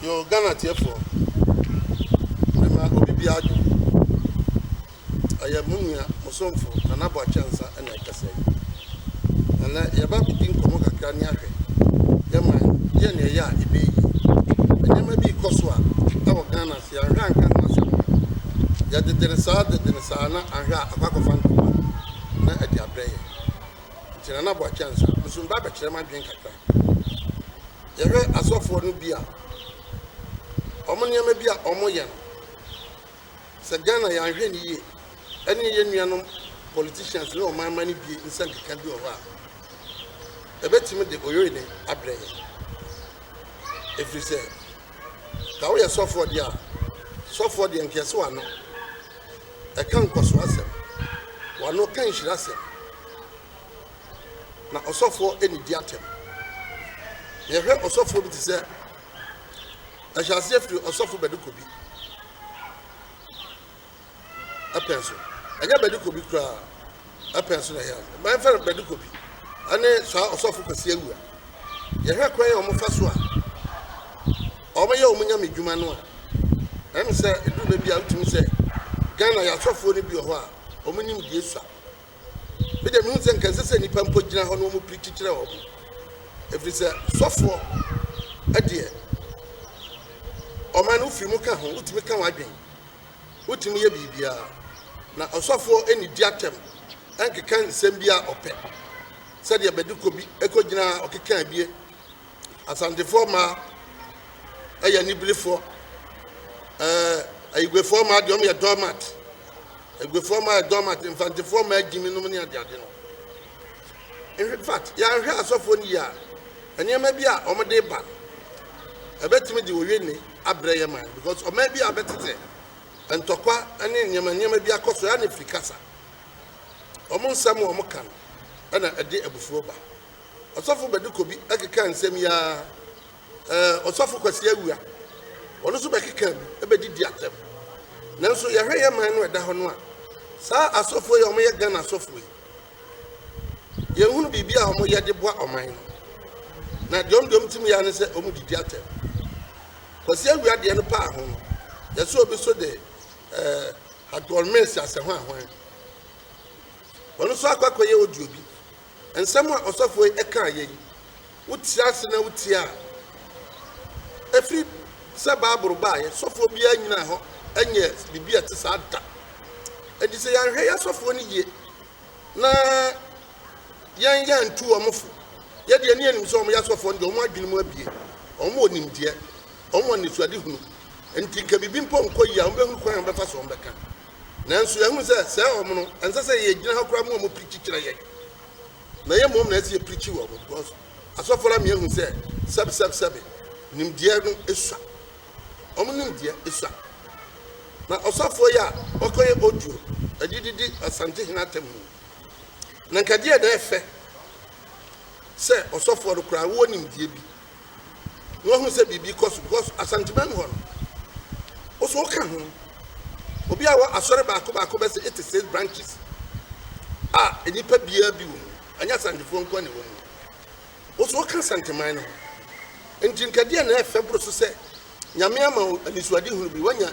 Yo, Ghana tiefoɔ, mema obi biara dwo. Ɛyɛ mo nua, mo somfo, Nana Boakye Ansa na ɛkasa yi. Ɛnɛ, yɛba bɛdi nkɔmmɔ kakra ne ahwɛ. Yɛma yɛ ne ɛyɛ a ɛbɛyɛ yie. Nneɛma bi rekɔ so a ɛwɔ Ghana Nti anhwɛ a anka ho asɛm no. Yɛdede no saa dede no saa na anhwɛ a akɔ akɔfa ntoma na ɛde abrɛ yɛn. Nti Nana Boakye Ansah, me nso meba abɛkyerɛ m'adwene kakra. Yɛhwɛ asɔfoɔ no bi a, wɔn nneɛma bi a wɔyɛ no, sɛ Ghana yɛanhwɛ no yie, ɛne yɛn nuanom politicians ne ɔman mma no bi nsa nkeka bi wɔ hɔ a, ɛbɛtumi de oyere abrɛ yɛn. Ɛfiri sɛ. Sɛ woyɛ sɔfoɔ deɛ a, sɔfoɔ deɛ nka ɛse w'ano ɛka nkɔsoɔ asɛm, w'ano ka nhyira asɛm, na ɔsɔfoɔ ɛni di atɛm. Na yɛhwɛ ɔsɔfoɔ bi te sɛ ɛhyɛ aseɛ firi ɔsɔfo bɛde kɔ bi. pɛn so. Ɛnyɛ Bɛdekɔbi koraa pɛn so na ɛyɛ ade. Mma yɛmfa no Bɛdekɔbi ne saa Ɔsɔfo Kwasi Awuah. Yɛhwɛ kwan a wɔfa so a wɔyɛ wɔn nyame dwuma no a, ɛne sɛ ɛduru baabi a wotumi sɛ Ghana yɛ asɔfoɔ no bi wɔ hɔ a wɔn nimdeɛ sua. Me deɛ mehu sɛ nka ɛsɛ sɛ nnipa mpo gyina hɔ na wɔn pirikyi kyerɛ wɔn. Ɛfiri sɛ sɔfoɔ ɛdeɛ ɔman no wofiri mu ka ho wotumi ka wɔn adwene. Wotumi yɛ biribiara, na ɔsɔfoɔ nnidi atɛm nkeka nsɛm bi a ɔpɛ, sɛdeɛ Bɛdekɔ bi kɔgyinaa ɔkekaa bie. Asantefoɔ mmaa yɛ aniberefoɔ. Ɛɛ, Ayiguefoɔ mmaa deɛ, wɔyɛ doormat. Ayiguefoɔ mmaa yɛ doormat, Mfantefoɔ mmaa gyimi nom ne adeade no. In fact, yɛanhwɛ asɔfoɔ no yie a, nneɛma bi a wɔde ba no, ɛbɛtumi de owi nne abrɛ yɛn man because ɔman bi a bɛtetɛ ntɔkwa ne nneɛma nneɛma bi akɔ so ɛa ne firi kasa wɔn nsɛm a wɔn ka no ɛna ɛde abufuo ba ɔsɔfo bɛde kɔ bi ɛkeka nsɛm yi ara ɛɛ ɔsɔfo kwasi awia wɔn nso bɛkeka bi ɛbɛdi di atɛm nanso yɛhwɛ yɛn man no ɛda hɔ no a saa asɔfoɔ yi a wɔyɛ Ghana asɔfoɔ yi Yɛnhunu biribi a wɔyɛ de boa ɔman no. Na deɛ wɔn deɛ wɔn tumi yɛ ara ne sɛ wɔn didi atɛm. Kwasi awia deɛ no paa ho no, yɛsɛ obi so de ɛɛ Hardcore Mills asɛ ho ahwan. Wɔn nso akɔ akɔyɛ audio bi. Nsɛm a ɔsɔfoɔ yi ɛkaa yɛ yi, Wote ase na wutie a, ɛfiri sɛ Bible baeɛ, sɔfoɔ biara nyinaa hɔ nyɛ biribi a ɛte saa da. Ɛnti sɛ yɛanhwɛ yɛ sɔfoɔ no yie na yɛn yɛ antu wɔn fo, yɛdeɛ ne anim sɛ wɔn yɛ sɔfoɔ no deɛ wɔn adwene mu abie, wɔn wɔ nimdeɛ, wɔn wɔ nnesuade hunu. Ɛnti nka biribi mpo nkɔ yie a, wɔn bɛhunu kwan a wɔn bɛfa so wɔn bɛka. Nanso yɛahunu sɛ sɛɛ wɔn no, ɛnsɛ sɛ yɛgyina hɔ koraa ma wɔn piri kyekyerɛ yɛn. na ɛyɛ mmom na ɛsɛ sɛ yɛpirikyi wɔ hɔ because asɔfo no ama yɛahu sɛ sɛbesɛbesɛbe nimdeɛ no sua wɔn nimdeɛ sua na ɔsɔfoɔ yi a ɔkɔyɛ audio ɛde didi asante hene atam mu na nkadeɛ na ɛfɛ sɛ ɔsɔfoɔ no koraa wɔ nimdeɛ bi na wahu sɛ biribi kɔ so because Asanteman hɔ no, wo so woka ho. Obi a wɔ asɔre baako baako bɛ sɛ eighty six branches a nnipa biara bi wɔ mu, ɛnyɛ Asantefoɔ nko na ɛwɔ mu. Wo so woka Asanteman no ho. Nti nkadeɛ na ɛfɛ boro so sɛ Nyame ama wo anisoadehunu bi, woanya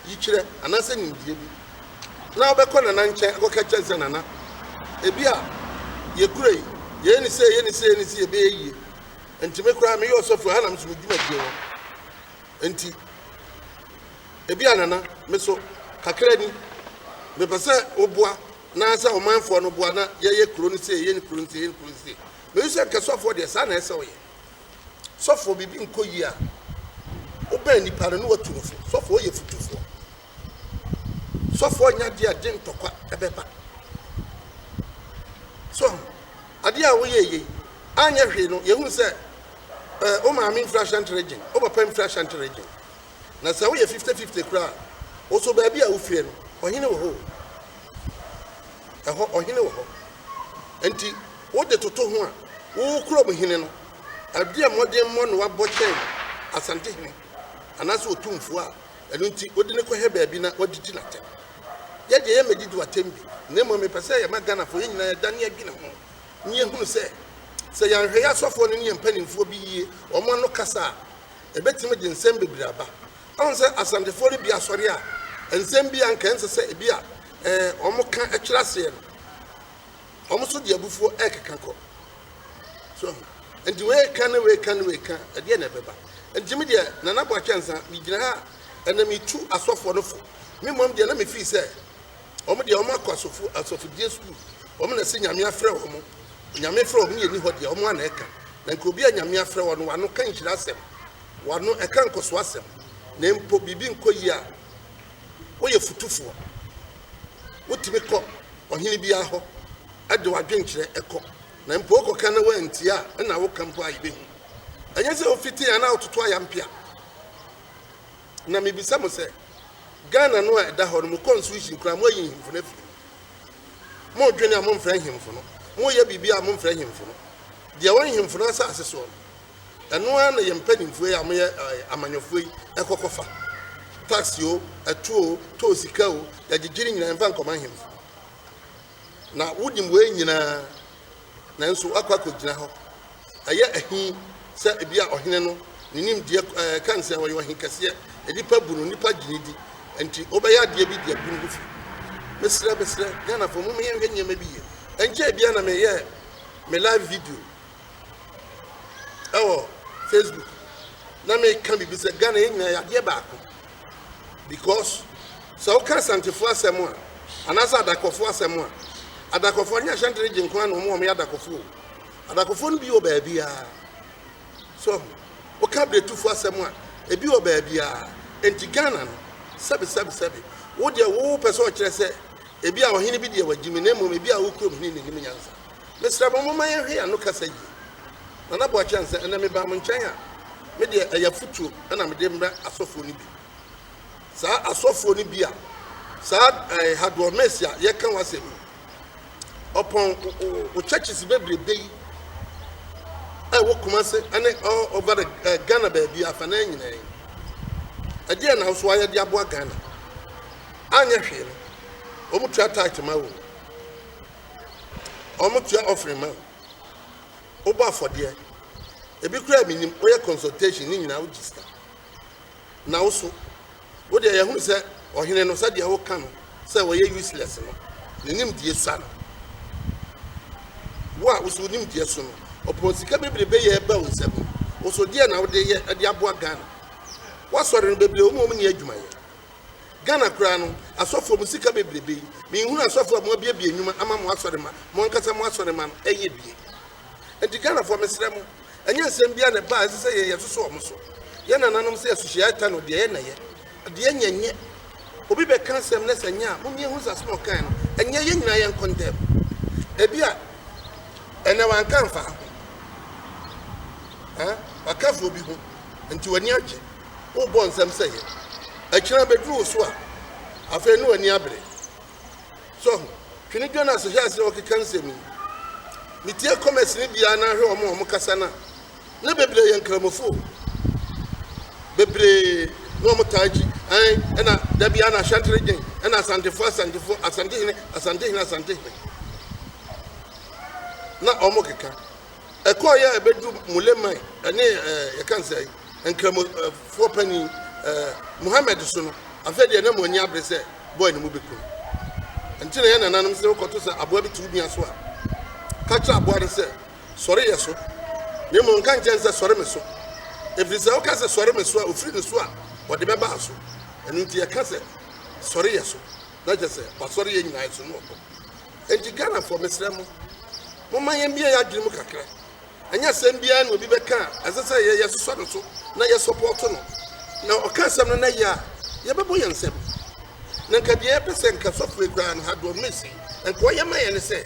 yikyerɛ anaasɛ nimdeɛ bi, na wobɛkɔ Nana nkyɛn akɔka akyerɛ no sɛ, Nana, ebi a yɛkura yi, yɛyɛ no sei, yɛyɛ no sei, yɛyɛ no sei, ɛbɛyɛ yie. Enti me koraa, meyɛ ɔsɔfo, ɛha na me so me dwumadie wɔ. Enti, ebi a Nana, me so, kakra ni, mepɛ sɛ woboa, na sɛ ɔmanfoɔ no boa, na yɛyɛ kuro no sei, yɛyɛ no kuro no sei, yɛyɛ no kuro no sei. Mehu sɛ nkasɔfoɔ deɛ, saa na ɛsɛ sɛ wɔyɛ. Sɔfoɔ, biribi nkɔ yie a, wobɛn nipa no na watu no fo. Sɔfoɔ, woyɛ futufoɔ. Sɔfoɔ nya adeɛ a gye ntɔkwa ɛbɛba. So ahu, adeɛ a woyɛ yei, anyɛ hwee no, yɛhu sɛ eh, wo maame mfiri Ashanti region, wo papa mfiri Ashanti region. Na sɛ woyɛ fifte fifte koraa a, oso baabi a wofie no, ɔhene wɔ hɔ o. Ɛhɔ, ɔhene wɔ hɔ. Enti wode toto ho a, wo kurom hene no, ɛdeɛn mmɔdemmɔ na wabɔ kyɛn Asantehene anaasɛ Otumfoɔ a ɛno nti wode no kɔhɛ baabi na wadidi no atɛm? Yɛ deɛ yɛmmɛdidi w'atɛm bi, na mmom mepɛ sɛ yɛma Ghanafoɔ yɛn nyinaa yɛdane yɛdwene ho na yɛhunu sɛ, sɛ yɛanhwɛ yɛn asɔfoɔ no ne yɛn mpanimfoɔ bi yie, wɔn ano kasa a, ebetumi de nsɛm bebree aba. Woahu sɛ Asantefoɔ no bi asɔre a, nsɛm bi a anka ɛnsɛ sɛ ebi a wɔka kyerɛ aseɛ no, wɔn nso de abufuo rekeka kɔ. So ahu? Nti wei ka ne wei ka ne wei ka, ɛdeɛ na ɛbɛba. Nti me deɛ, Nana Boakye Ansah, megyina ha a, ɛnna metu asɔfoɔ no fo. Me mmom deɛ na mefii sɛ, wɔn deɛ wɔn akɔ asɔfo asɔfodie sukuu wɔn na ɛsɛ nyame afrɛ wɔn onyame frɛ wɔn yɛ ni hɔ deɛ wɔn ana ɛka na nka obi a nyame afrɛ wɔn wano ka nhyira asɛm wano ɛka nkɔso asɛm na mpo biribi nkɔ yie a woyɛ futufoɔ wotumi kɔ ɔhene biara hɔ ɛde wadwenkyerɛ ɛkɔ na mpo wokɔ ka na wɔantie a ɛna woka mpo a yɛbɛhu ɛnyɛ sɛ wofiti anaa wototo ayampea Na mebisa mo sɛ, Ghana no a ɛda hɔ no, mo constitution koraa moayi nhemfo no afiri mu? Modwene a momfrɛ nhemfo no, moyɛ biribi a momfrɛ nhemfo no. Deɛ ɛwɔ nhemfo no asase soɔ no, ɛno ara na yɛn mpanimfoɔ yi a wɔyɛ ɛɛ amanyɔfoɔ yi ɛkɔ kɔfa. Tax o, ɛto o, toll sika o, yɛgyegye ne nyinaa yɛmfa nkɔma nhemfo. Na wonim wei nyinaa. Nanso woakɔ akɔgyina hɔ. Ɛyɛ ahi sɛ ebia ɔhene no, ne nimdeɛ ka no sɛ ɔyɛ ɔhe kɛseɛ, nnipa bu no, nnipa gye no di, enti wobɛyɛ adeɛ bi de agu ne ho fi. Mesrɛ, mesrɛ, Ghanafoɔ, momma yɛnhwɛ nneɛma bi yie. Ɛnkyɛe biara na meyɛɛ me live video ɛwɔ Facebook na meka biribi sɛ Ghana yɛn nyinaa yɛ adeɛ baako. because sɛ woka Asantefoɔ asɛm a anaasɛ Adakɔfoɔ asɛm a, Adakɔfoɔ nyɛ Ashanti region nko ara na wɔn a wɔyɛ Adakɔfoɔ o. Adakɔfoɔ no bi wɔ baabiara. So woka Bretufoɔ asɛm a, ebi wɔ baabiara. Enti Ghana no, sɛbe sɛbe sɛbe, wo deɛ wopɛ sɛ ɔkyerɛ sɛ ebi a ɔhene bi deɛ wagyimi na mmom ebi a wo kurom hene nim nyansa. Mesrɛ mo momma yɛnhwɛ yɛn ano kasa yie. Nana Boakye Ansah, Ɛnnɛ mebaa mo nkyɛn a, me deɛ ɛyɛ afotuo na mede rebrɛ asɔfoɔ no bi. Saa asɔfoɔ no bi a saa eh, Hadoɔ Mesi a yɛka ho asɛm yi, ɔpɔn wo churches bebrebe yi a ɛwɔ Kumase ne all over the eh, Ghana baabi afanan nyinaa yi. Ɛdeɛ na nso ayɛ de aboa Ghana. Anyɛ hwee no, wɔn tua tight ma wɔn. wɔtua offering ma wo, wobɔ afɔdeɛ, ebi koraa a menim, woyɛ consultation ne nyinaa wogye sika. Na wo so, wo deɛ yɛhunu sɛ ɔhene no sɛdeɛ woka no sɛ wɔyɛ useless no, ne nimdeɛ sua no. Wo a wo so wo nimdeɛ so no, ɔpɔn sika bebrebe yɛ ba wo nsam yi, wo so deɛ na wode yɛ de aboa Ghana? Woasɔre no bebree wɔn a wɔn ni adwuma yɛ. Ghana koraa no asɔfoɔ mo sika bebrebe yi me nhunu asɔfoɔ a mo abiabie nnwuma ama mo asɔre ma mo ankasa mo asɔre ma no ɛyɛ bie nti Ghanafoɔ mesrɛ mo ɛnyɛ nsɛm biara na ɛba a ɛsɛ sɛ yɛn yɛsoso wɔn so yɛn nananom sɛ asuhyia ɛta no deɛ yɛ na yɛ deɛ nyɛ nyɛ obi bɛka asɛm na sɛ nyɛ a mo nie ho nsase na ɔkan no ɛnyɛ yɛn nyinaa yɛn kɔntɛm ebi a ɛnɛ wanka mfa ho eh wakafoɔ bi ho nti wani agye wobɔ nsɛm sɛ yɛ. Ɛkyena bɛduru wo so a, afei ne w'ani abere. So ho? Twene Jonas hwɛ ase ɔkeka nsɛm yi. Metie comments no biara na ahwɛ wɔn a wɔkasa no a, na bebree yɛ nkramofoɔ. Bebree na wɔn taa gyi. Ɛn, ɛna da biara na ahyɛntere gyen, ɛna asantefoɔ, asantefoɔ, asantehene, asantehene, asantehene. Na wɔn keka. Ɛkɔeɛ a ɛbɛduru Mulemae ne yɛka no sɛn, Nkramofoɔ panin Muhammad so no, afei deɛ na mo ani abere sɛ boy no mobɛku no. Ɛnti na yɛn nananom se wokɔto sɛ aboa bi to wo nua so a, ka kyerɛ aboa no sɛ, Sɔre yɛ so, na mmom nka nkyerɛ no sɛ, Sɔre me so. Ɛfiri sɛ woka sɛ, Sɔre me so a, ɔfiri ne so a, ɔde bɛba wo so. Ɛno nti yɛka sɛ, Sɔre yɛ so, na kyerɛ sɛ, wasɔre yɛn nyinaa so, na wakɔ. Enti Ghanafoɔ, mesrɛ mo, momma yɛmmue yɛn adwene mu kakra. Ɛnyɛ asɛm biara na obi bɛka a ɛsɛ sɛ yɛsosɔ no so na yɛsɔpɔɔto no. Na ɔka asɛm no na yɛ a, yɛbɛbɔ yɛn nsam. Na nka deɛ yɛpɛ sɛ nka sɔfoɔ yi koraa no, Hador Mesi, nka ɔyɛ ma yɛn ne sɛ,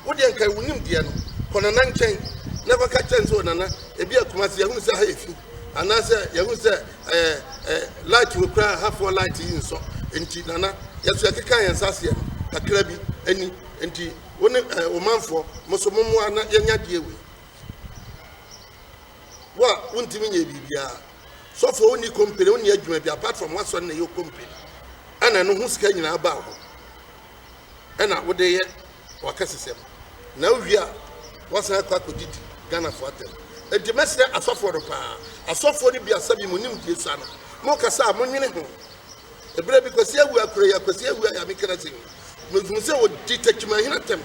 Wo deɛ nka wonim deɛ no, kɔ Nana nkyɛn na kɔka kyerɛ no sɛ, O Nana, ebia Kumasi ahunu sɛ ha yɛ fi. Anaasɛ yɛhu sɛ ɛɛ ɛɛ light wɔ kura ha foɔ light yi nsɔ nti nana yɛso yɛkeka yɛn nsa aseɛ no kakra bi ani nti wo ne ɛɛ wo manfoɔ mo so mo mmoa na yɛnya deɛ wei wo a wontumi nyɛ biribiara sɔfoɔ wonni company wonni adwuma bi apart from wasɔre na ɛyɛ company ɛna no ho sika nyinaa baa ho na wode yɛ wakɛsesɛm na wowie a wasan akɔ akɔdidi Ghanafoɔ atɛm nti mɛsrɛ asɔfoɔ no paa asɔfoɔ no biasa bi mo nimdie sua no mokasa a monwene ho ɛberɛ bi kwasi awu akora yi akwasi awu ayɛ me kana sɛ mehu sɛ ɔdi takyimahena tɛm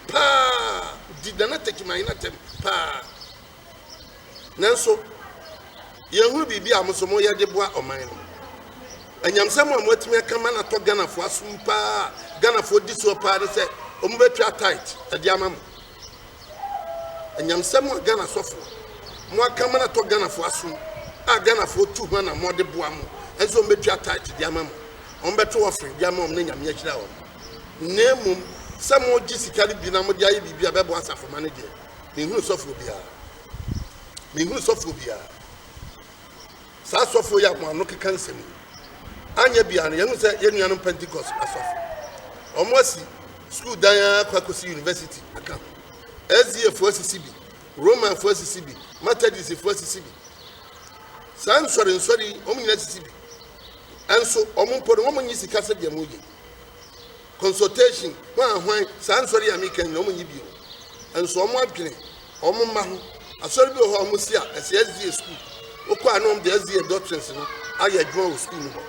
paa di nana takyimahena tɛm paa Nanso, yɛnhunu biribi a mo nso moyɛ de boa ɔman no. Anyamsɛm a moatumi aka ma no atɔ Ghanafoɔ asom paa a Ghanafoɔ di soɔ paa ne sɛ wɔbɛtwa tithe de ama mo. Anyamsɛm a Ghana asɔfoɔ moaka ma no atɔ Ghanafoɔ asom a Ghanafoɔ tu ho anammɔn de boa mo nso wɔbɛtwa tithe de ama mo. Wɔbɛto offering de ama wɔn na Nyame ahyira wɔn. Na mmom sɛ mogye sika no bi na mode ayɛ biribi a ɛbɛboa asafomma no deɛ, Menhunu sɔfoɔ biara. Menhunu sɔfoɔ biara. Saa asɔfoɔ yi a mo ano keka nsɛm yi, anyɛ biara no, yɛhu sɛ yɛn nuanom Pentecost asɔfo, wɔn asi sukuu dan ara kɔ akɔsi university aka ho. SDAfoɔ asisi bi, Romanfoɔ asisi bi, Methodistfoɔ asisi bi. Saa nsɔre nsɔre yi, wɔn nyinaa asisi bi. Ɛnso, wɔn mpo no, wɔn nyi sika sɛdeɛ mo yɛ. consultation hwan a hwan saa nsɔre yi a meka nyina ɔmo nye bi o ɛnso ɔmo adwene ɔmo mma ho asɔre bi wɔ hɔ a ɔmo si a ɛsɛ SDA school wokɔ a na ɔmo de SDA doctrines no ayɛ adwuma wɔ school no hɔ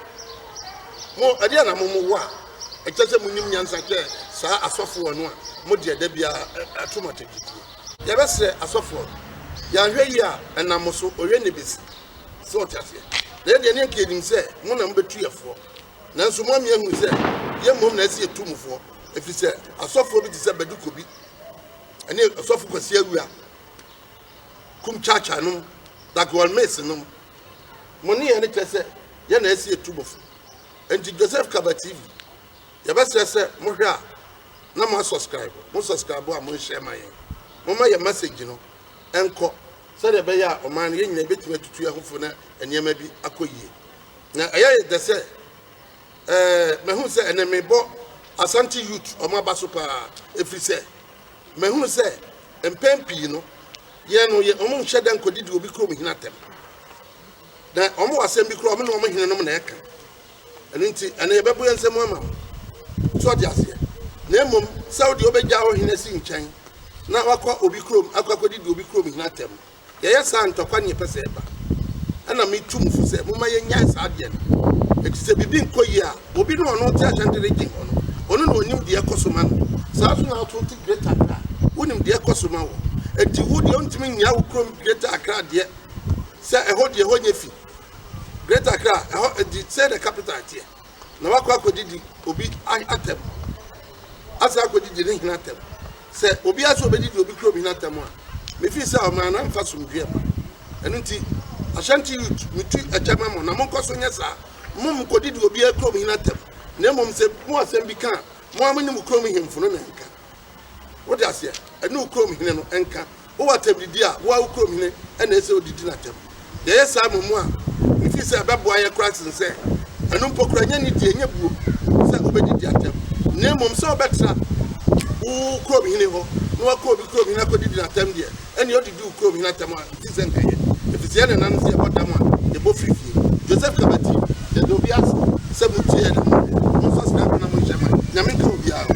mo ɛde a na mo mo wɔ a ɛkyɛ sɛ mo nim nyansa kyɛ saa asɔfoɔ no a mo deɛ da biara ɛto mo atɛgyetuo yɛbɛsrɛ asɔfoɔ no yɛahwɛ yi a ɛnam mo so ɔyɛ ne bɛsi sɛ ɔte aseɛ na ɛdeɛ ne ɛka yɛnim sɛ mo na mobɛtu yɛfoɔ Nanso mo amia hunu sɛ yɛn mmom na ɛsɛ yɛtu mo foɔ, ɛfiri sɛ asɔfoɔ bi te sɛ Badu Kobi ne ɔsɔfo Kwasi Awia kum Kyaakyaa nom, Dagoal Mace nom. Mo ne yɛn kyɛ sɛ yɛn na ɛsɛ yɛtu mo fo. Enti Joseph Kaba TV, yɛbɛsrɛ sɛ mohwɛ a na mo asɔskraibo, mo sɔskraibo a monhyɛ ma yɛn. Momma yɛn masage no nkɔ sɛdeɛ ɛbɛyɛ a ɔman no yɛn nyinaa yɛbɛtumi atutu yɛn ho fo na nneɛma bi akɔ yie. Na ɛyɛ yɛ dɛ sɛ ɛɛ mahu sɛ ɛnɛ mebɔ Asante Youth wɔn aba so paa ɛfiri sɛ mahunu sɛ mpɛn pii no yɛn no yɛ wɔn nhyɛ dɛ nkɔdidi obi kurom hene atɛm na wɔn wɔ asɛm bi kura wɔn ne wɔn hene nom na ɛka ɛno nti ɛnɛ yɛbɛbo yɛn nsɛm ama wɔn so ɔde aseɛ na mmom sɛ wodeɛ wobɛgya wo hene si nkyɛn na wakɔ obi kurom akɔ akɔdidi obi kurom hene atɛm Yɛyɛ saa a, ntɔkwa ne yɛpɛ sɛ ɛba. Ɛnna metu mo fo sɛ momma yɛnnyae saa adeɛ no, ɛfiri sɛ biribi nkɔ yie a, obi ne ɔno te ahyɛnte regye hɔ no, ɔno na ɔnim deɛ ɛkɔ so ma no. Saa ara nso na woto te Greater Accra a, wonim deɛ ɛkɔ so ma wo. Enti wo deɛ, wontumi nnyaa wo kurom Greater Accra deɛ sɛ ɛhɔ deɛ, ɛhɔ nyɛ fi. Greater Accra, ɛhɔ, the, say the capital teɛ. na wakɔ akɔdidi obi atɛm, asan akɔdidi ne hene atɛm. Sɛ obiara sɛ ɔbɛdidi obi kurom hene atɛm a, mefii sɛ ɔman no amfa somdwoeɛ mma. Ɛno nti, Ashanti youth, metu ɛkyɛ ma mo, na monkɔ so nyɛ saa. Monkɔdidi obiara kurom hene atɛm, na mmom sɛ mo asɛm bi ka a, mo ara mo ne mo kurom hemfo no na ɛnka. Wode aseɛ? Ɛne wo kurom hene no nka. Wowɔ atɛmdidi a, wo ara wo kurom hene na ɛsɛ sɛ odidi no atɛm. Yɛyɛ saa mmom a, mifi sɛ ɛbɛboa yɛn koraa sen sɛ ɛno mpo koraa. Ɛnyɛ nidi, ɛnyɛ buo sɛ wobedidi atɛm, na mmom sɛ wobɛtra wo kurom hene hɔ na woakɔ obi kurom hene akodidi no atɛm deɛ, ɛnneɛ odidi wo kurom hene atɛm a, mete sɛ nka ɛyɛ. Efisɛ yɛn nananom se yɛbɔ dam a, yɛbɔ firi fie. Joseph Kabati. Yɛda obiara ase sɛ motiee yɛn amanneɛ. Momfa saa kwan no nhyɛ mma. Nyame nka obiara.